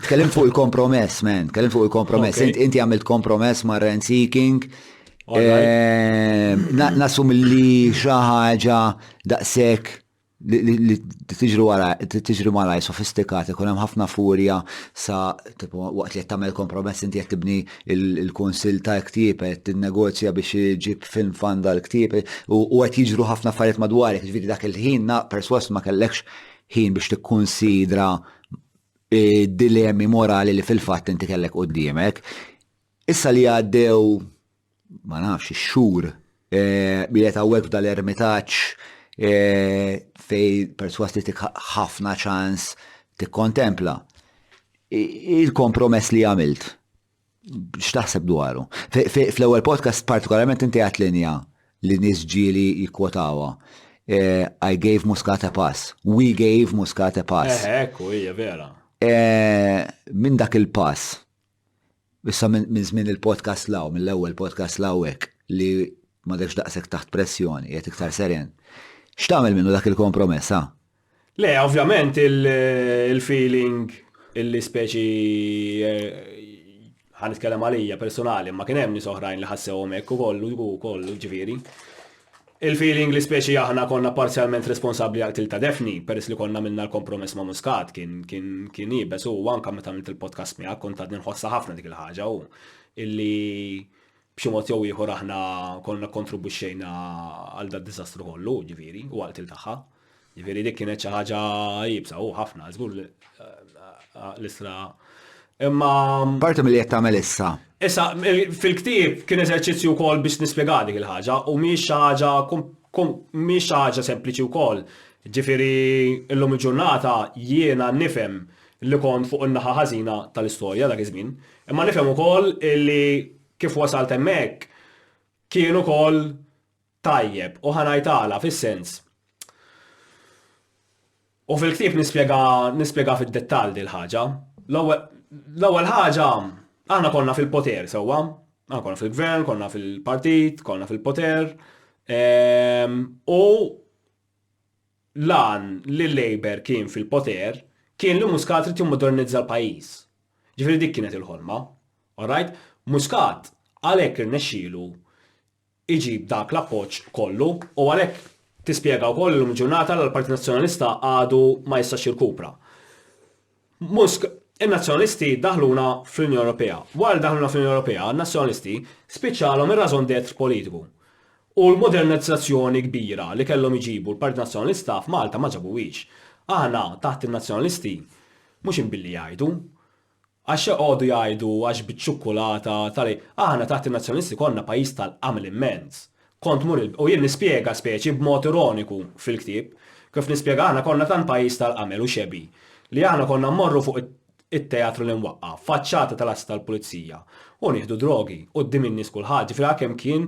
Tkellimt fuq il-kompromess, man. Tkellimt fuq il-kompromess. Okay. Int- Inti għamilt kompromess ma' rent seeking. Ehm, na- Nasum li xi ħaġa daqshekk li- li li tiġri wara tiġri malaj sofistikata, ikun hemm ħafna furja sa tipo, waqt li qed tagħmel kompromess inti qed tibni il- il-kunsill ta' ktieb qed tinnegozja biex iġib film fan dal-ktieb u u qed jiġru ħafna affarijiet madwarek, ġifieri dak il-ħin na perswas ma kellekx ħin biex tikkunsidra dilemmi morali li fil-fatt inti kellek quddiemek. Issa li għaddew ma nafx ix-xhur bilet eh, hawnhekk dal-ermitaġġ eh, fej perswas li tik ħafna ċans tikkontempla. Il-kompromess li għamilt X'taħseb dwaru? Fl-ewwel podcast partikolarment inti għat linja li nies ġieli jikkwotawa. Eh, I gave Muscat a pass. We gave Muscat a pass. Eh, ekku, hija vera. Eh, minn dak il-pass, issa minn żmien il-podcast law, mill-ewwel podcast law hekk li ma daqsek taħt pressjoni, qed iktar seren. X'tagħmel minnu dak il-kompromessa? Le, ovvjament il-feeling illi speċi eh, ħan itkellem għalija personali, ma kien hemm nies oħrajn li ħassewhom hekk ukoll ukoll ġifieri. Il-feeling li speċi aħna konna parzjalment responsabbli għal tilta defni, peress li konna minna l-kompromess ma' Muscat, kien kien kien ibes u anka meta għamilt il-podcast miegħek kont għadni nħossha ħafna dik il-ħaġa u illi b'xi mod jew ieħor aħna konna kontribuxxejna għal da diżastru kollu, ġifieri, u għal til tagħha. Ġifieri dik kienet xi ħaġa jibsa u ħafna żgur l-isra. Imma parti milli qed tagħmel issa. Issa fil-ktieb kien eżerċizzju wkoll biex nispjega dik il-ħaġa u mhix xi ħaġa mhix xi ħaġa sempliċi wkoll. Ġifieri llum il-ġurnata jiena nifhem li kont fuq in-naħa ħażina tal-istorja dak iż-żmien, imma nifhem ukoll li kif wasalt hemmhekk kien ukoll tajjeb u ħa ngħid għala fis-sens u fil-ktieb nispjega nispjega fid-dettall din ħaġa. L-ewwel ħaġa aħna konna fil-poter sewwa, aħna konna fil-gvern, konna fil-partit, konna fil-poter. Ehm, u lan li l-Labor kien fil-poter kien li Muscat trid jimmodernizza l-pajjiż. Ġifieri dik kienet il-ħolma. Alright? Muscat għalhekk irnexxielu iġib dak l-appoġġ kollu u għalhekk tispjega wkoll li llum il-ġurnata l-Partit Nazzjonalista għadu ma jistax jirkupra. Musk, In-Nazzjonalisti daħluna fl-Unjoni Ewropea. Wara li daħluna fl-Unjoni Ewropea, n-Nazzjonalisti spiċċalhom ir-raison d'être politiku. U l-modernizzazzjoni kbira li kellhom iġibu l-Partit Nazzjonalista f'Malta ma ġabuhiex. Aħna taħt in-Nazzjonalisti mhux inbilli jgħidu, Għax joqogħdu jgħidu għax biċ-ċukkulata tal-. Aħna taħt in-Nazzjonisti konna pajjiż tal-qamel immens. Kont tmur il-. U jien nispjega speċi b'mod ironiku fil-ktieb, kif nispjega aħna konna tant pajjiż tal-qamel u xebgħi, li aħna konna mmorru fuq it-teatru li nwaqqaf, faċċata tal-assi tal-pulizija, u nieħdu drogi, quddiem in-nies kulħadd, ġifieri għalkemm kien